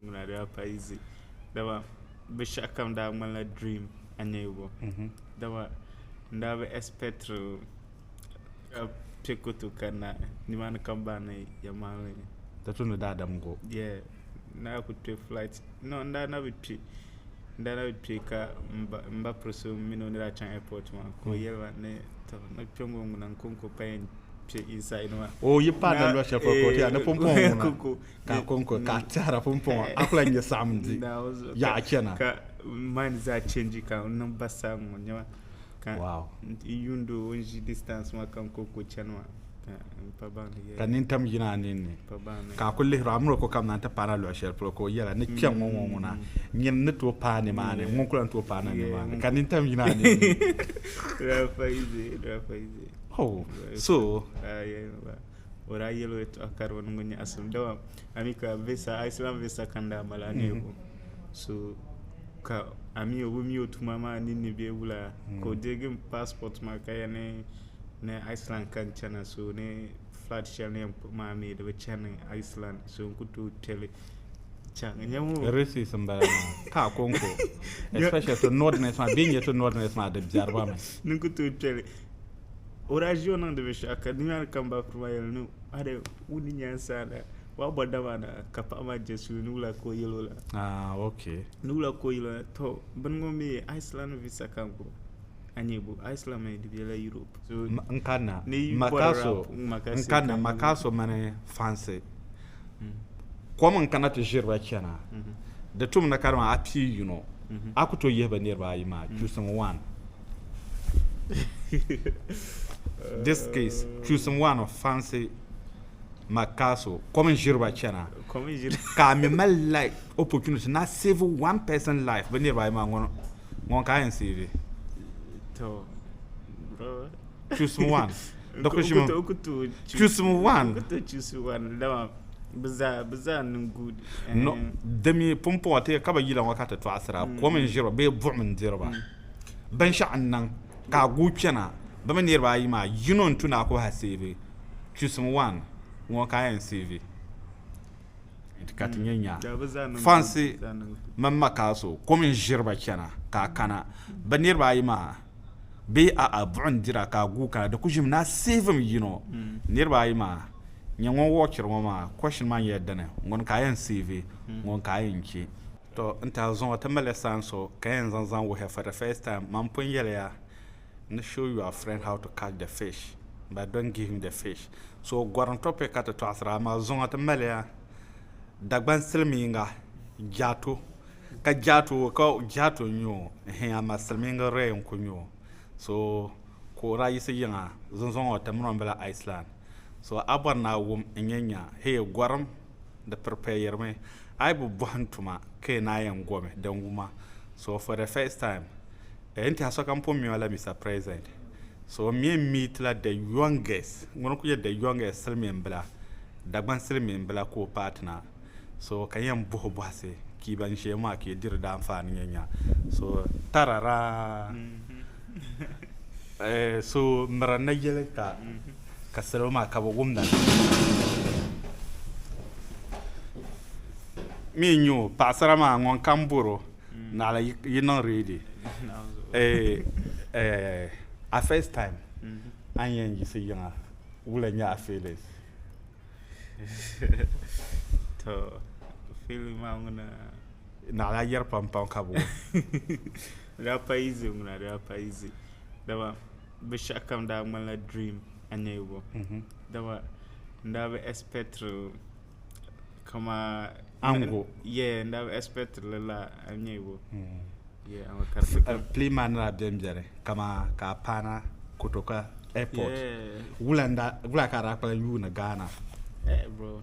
Ŋuna daa pa izi dama binshɛɣukam daa ŋmanila dream aniyubo dama n daa bi ɛspɛtiri ka kpe ku tooi kanna nimaani ka m ba ni yɛn maŋli ni. Di tumdi daadam n-gu o. Yeah n daa kuli kpe flight no n daa nabi kpe n daa nabi kpe ka m ba piri so mini o ni daa chaŋ airport maa ka o yɛli ma ni tɔ ni kpɛŋɔ ŋuna n-konko pa yɛn kpe inside maa. O yi paai dali luɣ shɛli polo ka o ti yɛli ni pumpɔŋɔ ŋuna. ka a kɔŋko ka a tɛhira pumpɔŋɔ a kula nyɛ saɣim di yaɣ chɛna ka mind zaa change ka n niŋ basaa ŋɔ nyɛma ka n yuundi o n ʒi distance maa ka n kɔŋko chɛni maa ka nintam yina a ninni ka a ku lihiri amina ko kam na n ti paana luɣ shɛli polo ka o yɛla ni kpɛŋ ŋɔ ŋɔ ŋuna nyini ni tooi paai nimaani ŋun kula ni tooi paai na nimaani ka nintam yina a ninni so o daa yɛl o yɛtɔɣa ka di bi niŋ o nyaɣisim. Dama a mi ka visa, a Islam visa ka n daa mali a neei o. So ka a mi o bi mi o tuma maa ninni bee wula ka o deegi n passport maa ka yɛn ni Islam ka n chana so ni flight shɛli ni yɛn kpuɣi maa mi di bi chani Islam so n ku tooi kpeli chaŋ. Nyabo! Racist n bala maa. Ka a ko n ko. Especially to northerners maa bee n-nyɛ to northerners maa di biɛri ba mi. Ni n ku tooi kpeli. O daa ʒi o niŋdi binshɛɣu ka dunia ni kam baakuru maa yɛli ni a di wum di nyaani sa na wa bɔ dam a na ka paɣa maa je suli ni wula ka o yɛl o la Ah, ok. ni wula ka o yɛl o la tɔ bini ŋɔ mi Iceland visa ka n gbubi a nya bo Iceland mi di bela Europe so Ma- N kanna ni yi ma bɔri ka so rap n ŋma ka n si kanna ka ma yi- ka so mini fansi kom n kana ti ʒiri ba chana di tum ni ka dama a pii yino a ku to yihi bi niriba ayi maa chusing one This case, choosing one of fancy Macaso, kom n ʒiri ba chana ka a mi mali like opportunity na save one person life bi niriba ayi maa ŋuni ka a yɛn save choosing one choosing one di mi pumpɔŋɔ ka bi yila ŋɔ ka ti tɔɣisira kom n ʒiri ba bee buɣim n diri ba. Binshɛɣu n niŋ ka a guui kpɛna bi mi niriba ayi maa yino n tu ni a ku ha seevi chusim wan ŋɔ ka a yɛn seevi ka ti nyɛ nya fansi mini makaaso kom n ziri ba kpɛna ka a kana bi niriba ayi maa bee a'a buɣim dira ka a guui kana di ku ʒimi ni a seevi mi yino niriba ayi maa nyɛ ŋun wɔɣiri ŋɔ maa kɔshin maa nyɛla dini ŋuni ka a yɛn seevi ŋuni ka a yɛn che. To n tahi zuŋɔ ti mali saan so ka yɛn zaŋ zaŋ wuhiya for the first time man pun yɛliya ni show your friend how to catch the fish but don't give him the fish so gorim topic ka ti tɔɣisira amaa zuŋɔ ti maliya Dagban silimiinga Jaato ka Jaato ka Jaato n nyɛ o ɛhɛn amaa silimiingi Ray n kuli nyɛ o so ka o daa yiɣisi yiŋa zunzuŋɔ ti mini o n bala Iceland so a bɔri ni a wum n yɛn nya hee gorim di piripɛyirimi a yi bi bɔhim tuma ka yi naan yɛn gomi din wuma so for the first time n tiɛha sokam pun mi ma la Mister President so n mi n meet la the youngest ŋuni n kuli nyɛ the youngest silimiin bila Dagban silimiin bila ka o paai ti na so ka n yɛn bɔhi o bɔhisi ka yi ban ʒiya maa ka yi diri daanfaani n yɛn nya so tarara. So miri ni yɛli ka salo maa ka bɛ wumda ni mi n-nyɛ o paɣisara maa ŋun kam bɔri o naɣila yi niŋ reedi a fɛs taim a ni yɛn yiɣisi yiŋa wula n-nyɛ a fiilin? Naɣila yɛri pampam ka bɛ wum. Rapayizzi ŋuna rapayizzi dama bi shɛhi kam daa ŋmani la dream n nyɛ bɔ dama n daa bi expectili kamaa Ango yeah n daa bi expectili lala n nyɛ bɔ yeah amaa ka di ti kuni plane maa ni daa bɛni bɛni kamaa ka a paana kotoka airport wula ka a daa kpalim yuuni Ghana eh bro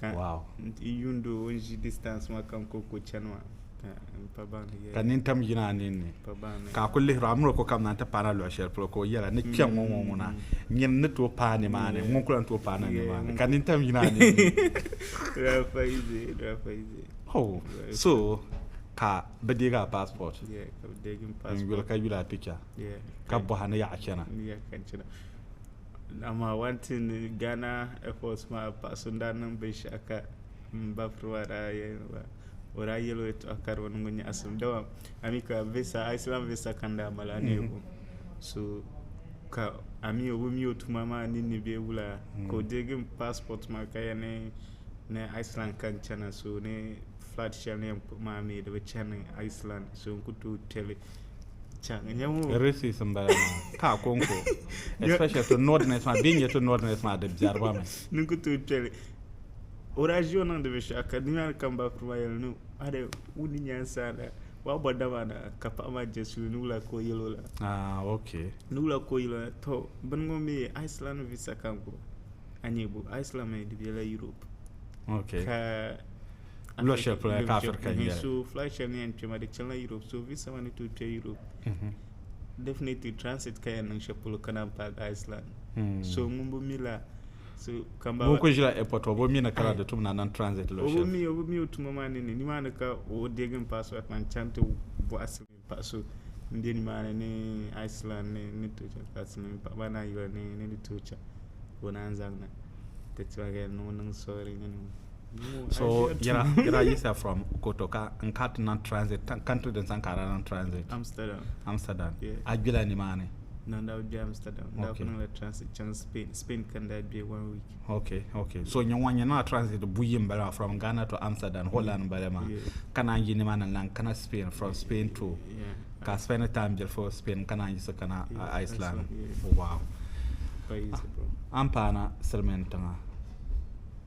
Ka wow. n yuundi o n ʒi distance maa kam ko ko chani maa ka n pa baŋ ni ka nin tam yina a ninni ka a ku lihiri a miri o ko kam na n ti paana luɣu shɛli polo ka o yɛla ni kpɛŋ ŋɔ ŋɔ ŋuna nyini ni tooi paai ni maa ni ŋun kula ni tooi paai na ni maa ni ka nin tam yina a ninni oh so ka bi deegi a passport n yuli ka yuli a picture ka bɔha ni yaɣa chana Dama one thing Ghana airport maa paɣa so n daa niŋ binshaɣu ka n ba firi maa daa yɛli ba o daa yɛli o yɛtɔɣa ka di bi niŋ o nyaɣasim dama a mi ka visa Iceland visa ka n daa mali a ni yɛn gu so ka a mi o bi mi o tuma maa ninni bee wula ka o deegi n passport maa ka yɛli ni Iceland ka n chana so ni flight shɛli ni yɛn kpuɣi maa mi di bi chani Iceland so n ku tooi kpeli. Reese's n bala maa ka a konko especially to northerners maa bee n nyɛ to northerners maa di biɛri ba mi. Ni ku tooi kpɛli Horacio niŋdi binshaɣu ka dunia ni kam ba kuli maa yɛli ni are wuni nyansaala waa bɔ dama na ka paɣa maa jɛ suli ni wula ka o yɛli o la. Ah okay. Ni wula ka o yɛli o la to bini ŋɔ mi Iceland visa ka n gbubi a nyɛ bu Iceland mi di bɛla Europe. Okay. Ka Lɔ shɛli polo ka Afirika n yɛli. So flight shɛli ni yɛn kpɛma di chanila Europe so visa maa ni tooi kpɛ Europe mhm. definitely transit ka yɛn niŋ shɛli polo ka naan paaki Iceland hmm. so ŋun bi mi la so kamba ŋun kuli ʒila airport o bi mi ni kala di tum na niŋ transit lɔ shɛli o bi mi o bi mi o tuma maa ni ni nimaani ka o deegi n paasɔt maa n chaŋ ti bɔɣa sili Paɣa so m-be nimaani ni Iceland ni ni tooi chaŋ ka ti mini paɣiba anahi yuli ni ni di tooi chaŋ ka o naan zaŋ na ti ti ba ka ni ŋun niŋ sɔɣiri ni ŋɔ. So yɛla yɛla yiɣisiya from Koto ka n kana ti niŋ transit country din sani ka a daa niŋ transit? Amsterdam. Amsterdam. Yeah. A gbila nimaani? na n daa bɛ amsterdam n daa okay. kuniŋla transit chaŋ spain spain ka n daa bɛ one week okay okay so nyɛ ŋɔ nyɛ niŋla transit buyi n bala from ghana to amsterdam holland n bala maa yeah. ka naan yi nimaani lan kana spain from yeah. spain to yeah. ka spend time bili for spain ka naan yiɣisi kana yeah. uh, iceland yeah. wow an paana silimiin tiŋa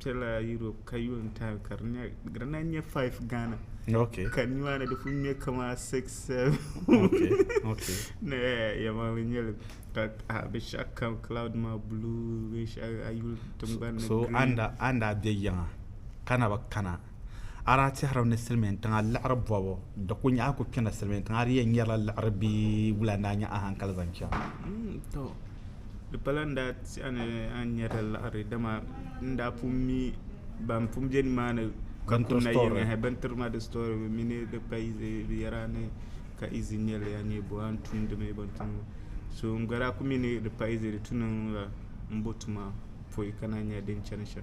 kpɛla Europe ka yo n taai ka di na nyɛ five Ghana ka nimaani di pun nyɛ kama six seven ni yɛma bi nyɛli ka bi shɛba kam cloud maa blue bi shɛba a yuli tiŋgbani ni green so anda bɛ yiŋa ka na bi kana. A daa tɛhirimi ni silimiintiŋa liɣiri bɔbu di ku nyaɣi ku kpɛna silimiintiŋa di yɛn nyɛrila liɣiri bee wula n-daa nya a hankali zaŋ chaŋ? Tɔ! Di pala n daa ti a ni a ni nyɛrila liɣiri dama n daa pun mi ban pun be nimaani ka ku nayiŋ hɛ bintiri ma di story bɛ mi ni di pa izi bɛ yɛra ni ka izi n-nyɛli ya ni bɔ a ni tum di mi bini tum so n gba daa ku mi ni di pa izi di tu niŋ la m bo tuma pɔi ka na nya din chani shɛm.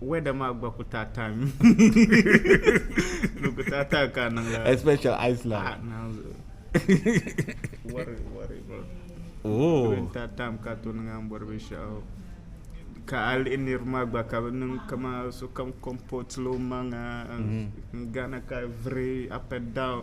weather maa gba ku taa time di ku taa time ka niŋla especially Iceland ah naanzu wari wari oh taa time ka to niŋ an bɔri binshaɣu ka a lihi niriba maa gba ka bi niŋ kama sokam comport lo maŋa n gana ka viri up and down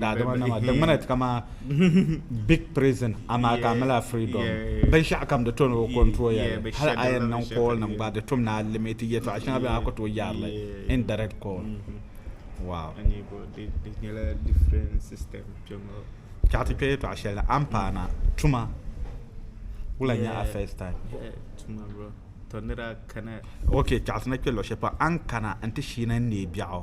daadama nama di ŋmana ti kama big prison amaa ka mila freedom binshaɣu kam di toni o control ya hali a yɛn niŋ call nim gba di tum ni a limit yɛtɔɣa shɛŋa bɛ a ku tooi yaarili indirect call wow ka ti kpɛ yɛtɔɣa shɛli ni a ni paana tuma wula nyɛ a first time ok chaɣasina kpɛ luɣu shɛli pam a ni kana n ti shiina n neei biɛɣu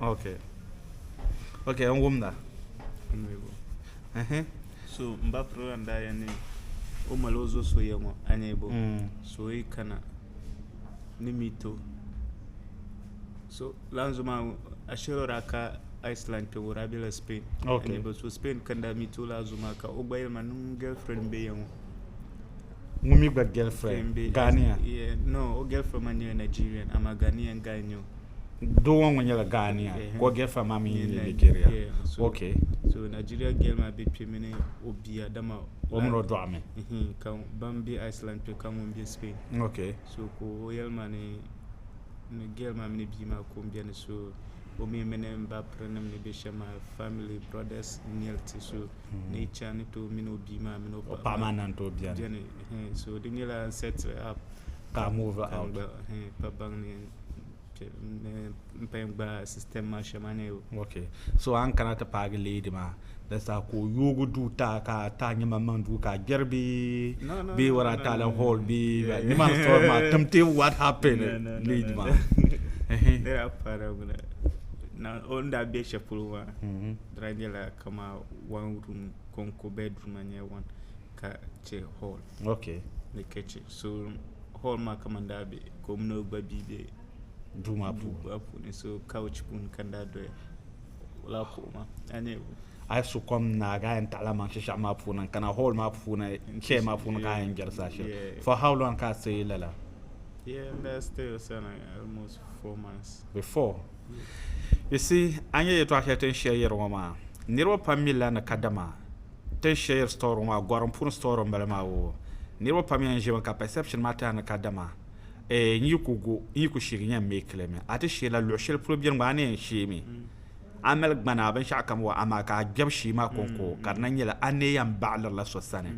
Okay okay n wumda ɛhɛn. So m ba pirigila n daa yɛn ni o mali o zo so ya ŋɔ a nya bɔ so o yi kana ni mi ti o so lan zo maa ashili o daa ka Iceland kpɛbu o daa bela Spain a nya bɔ so Spain ka n daa mi ti o lala zo maa ka o gba yɛli ma ni n girlfriend m-be ya ŋɔ. ŋun mi gba girlfriend Ghanaian. Yeah, no, o girlfriend maa nyɛla Nigerian, amaa Ghanaian guy n-nyɛ o. Doo ŋɔ ŋun nyɛla Ghanaian, Yeah, ka o girlfriend maa mi nyɛ nyɛ Nigeria. Nigeria. Yeah, so- Okay. So Nigeria girl maa be kpe mini o bia, dama O mini o dɔɣi mi. Mhm, ka ban be Iceland kpe ka ŋun be Spain. Okay. So ka o yɛli ma ni ni girl maa mini bia maa ka o beni so o mi mini m ba pirinim ni be shɛm maa family, brothers n-nyɛ li ti so ni icha ni tooi mini o bia maa mini o paɣa maa nan tooi biɛni so di nyɛla n set up ka move out pa baŋ ni n paya gba system maa shɛma ni okay so an kana ti paagi lady maa da sa ka o yoogi duu ta ka ta nyɛma maŋ duu ka gbɛri bi bi wara ta la hall bi ni ma sɔrɔ ma tamte what happened lady maa ne daa paara na o ni daa bɛ shɛli polo maa Dry nyɛla kama one room konko bedroom maa nyɛla one ka che hall okay ni kitchen so hall maa kama daa be ka o mini o gba bia be duu maa puuni so couch puuni ka daa doya wala kuɣu maa a nyɛ a so kom na ga yan taɣala man shishab maa puuni n kana hall maa puuni chair maa puuni ka yan jɛri saa shɛli for how long ka stay lala yeah that stay sana almost four months before You see, a nya yɛtɔɣ shɛli ti ni shɛri yɛri ŋɔ maa? Niriba pam mi lani kadama ti ni shɛri yɛri sitɔri ŋɔ maa gɔrim puuni sitɔri m-bala maa woo. Niriba pam yɛn ʒimi ka perception maa tɛha ni kadama eeh n yi ku gu, n yi ku sheegi n yɛn make li mi. A ti sheei la luɣ shɛli polo beni gba a ni yɛn sheei mi. A mali gbana binshɛɣu kam wa amaa ka a kpɛbu shee maa kɔŋko ka di na nyɛla a ni yɛn baɣiliri la so sani.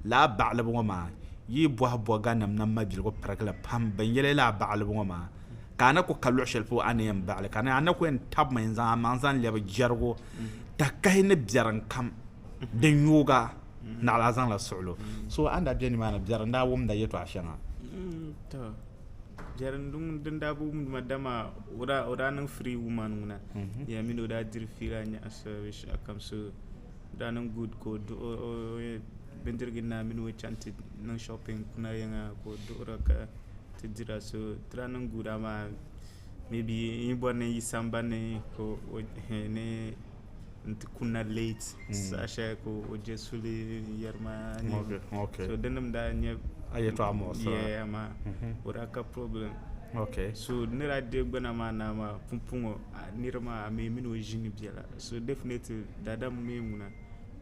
Lala baɣilibu ŋɔ maa, yi yi bɔhi bɔganim ni mabiligu pirigili pam bɛ ni yɛli la baɣilibu ŋɔ maa, ka a ni ku ka luɣ shɛli polo a ni yɛn baɣili ka ni a ni ku yɛn tabimi n-zaŋ a maŋ zaŋ lɛbi jɛrigu tahikahi ni biɛrim kam din yoog a naɣila a zaŋla suɣil o. So a ni daa be nimaani biɛri n-daa wumda yɛtɔɣ shɛŋa? Tɔ, biɛri din daa bi wumdi ma dama o daa niŋ free woman ŋuna di yɛn mi ni o daa diri fiila nyaɣisira binshɛɣu kam so o daa niŋ good ka o duɣi bindirigu ni a mini o chaŋ ti niŋ shopping kuna yiŋa ka o duɣira ka ti dira so tira niŋ guura maa maybe n yi bɔri ni n yi sambani ni ka o dihi ni n ti kunna late saha shɛli ka o je suli n-yɛri ma so di nim daa nyɛ yeah amaa o daa ka problem so ni daa deei gbana maa naa maa pumpɔŋɔ nira maa a mi mini o ʒini bela so definitely daadam n-mi ŋuna.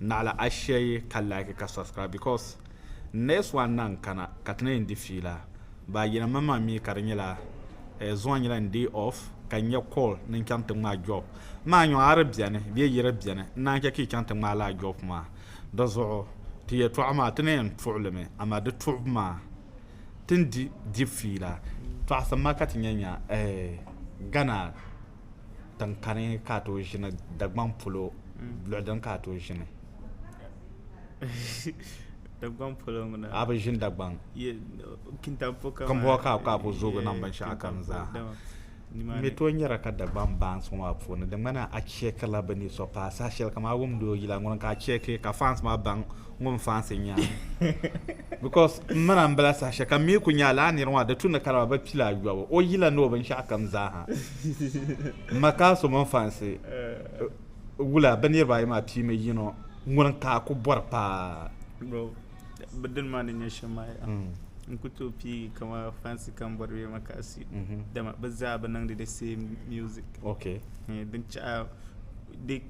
Naɣila a share ka like ka subscribe because next one na n kana ka ti na yɛn di fiila baa yina man man mi ka di nyɛla eh, zuŋɔ nyɛla n day off ka n nya call ni n chaŋ ti ŋmaa job maa n yɔŋ a di bɛni bee yi di bɛni n naan chɛ ka yi chaŋ ti ŋmaa laa job maa di zuɣu ti yɛtɔɣa maa ti na yɛn tuɣi li mi amaa di tuɣibu maa ti ni di di fiila tɔɣisi ma ka ti nya nya eh, Ghana tinkani ka a tooi ʒini Dagbaŋ polo luɣi dini ka a tooi ʒini a bi ʒini Dagbaŋ Kimbɔɣu ka a ku zoogi niŋ binshɛɣu kam zaa n mi tooi nyɛrila ka Dagbaŋ baans ŋɔ maa puuni di ŋmanila a chɛkirila bi ni so paai saha shɛli kam a wumdi o yila ŋuni ka a chɛki ka faans maa baŋ ŋun fansi nya because m mana m bala saha shɛli ka mi ku nya laa niriŋɔ di tu ni kariba bi pila ayɔbu o yila ni o binshɛɣu kam zaaha m ma ka so mini fansi wula bi niriba ayi maa pii mi yino ŋuni ka a ku bɔri paa bro bi dini maa ni nyɛ shɛm maa ya n ku tooi pii kama fansi kam bɔri bɛ ma kasi dama bi zaa bi niŋdi the same music okay din chaɣa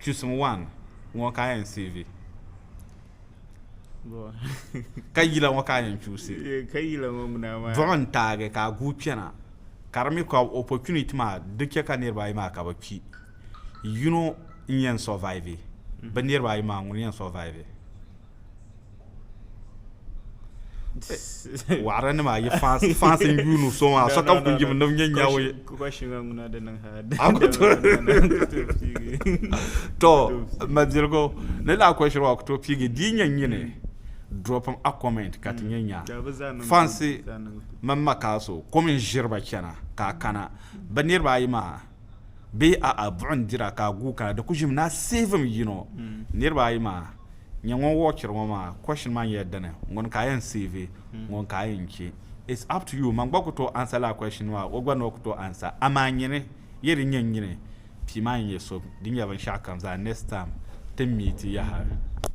chusim wan ŋɔ ka a yɛn seevi ka yila ŋɔ ka a yɛn chuusi buɣim n taagi ka a guui kpɛna ka di mi ka opportunity maa di chɛ ka niriba ayi maa ka bi kpi yino n yɛn survive bi niriba ayi maa ŋuni n yɛn survive waɣara nim ayi fansi n yuun u so maa so kam ku yimi ni bi nyɛ nyawo ye to mabiligu ni laa kwashiri maa ku tooi piigi di yi nyɛ nyini drop a comment ka ti nyɛ nya fansi mini makaso kom n ʒiriba chɛna ka a kana bi niraba ayi maa bee a'a buɣim n dira ka a guui kana di ku ʒimi ni a seevim yino niriba ayi maa nyɛ ŋun wɔɔchiri ŋɔ maa kɔshin maa nyɛla dini ŋuni ka a yɛn seevi ŋuni ka a yɛn che it's up to you man gba ku tooi ansa lala kɔshin maa o gba ni o ku tooi ansa amaa nyini yɛ din nyɛ nyini pii maa ni nyɛ so din nyɛ binshɛɣu kam zaa next time ti miiti yaha.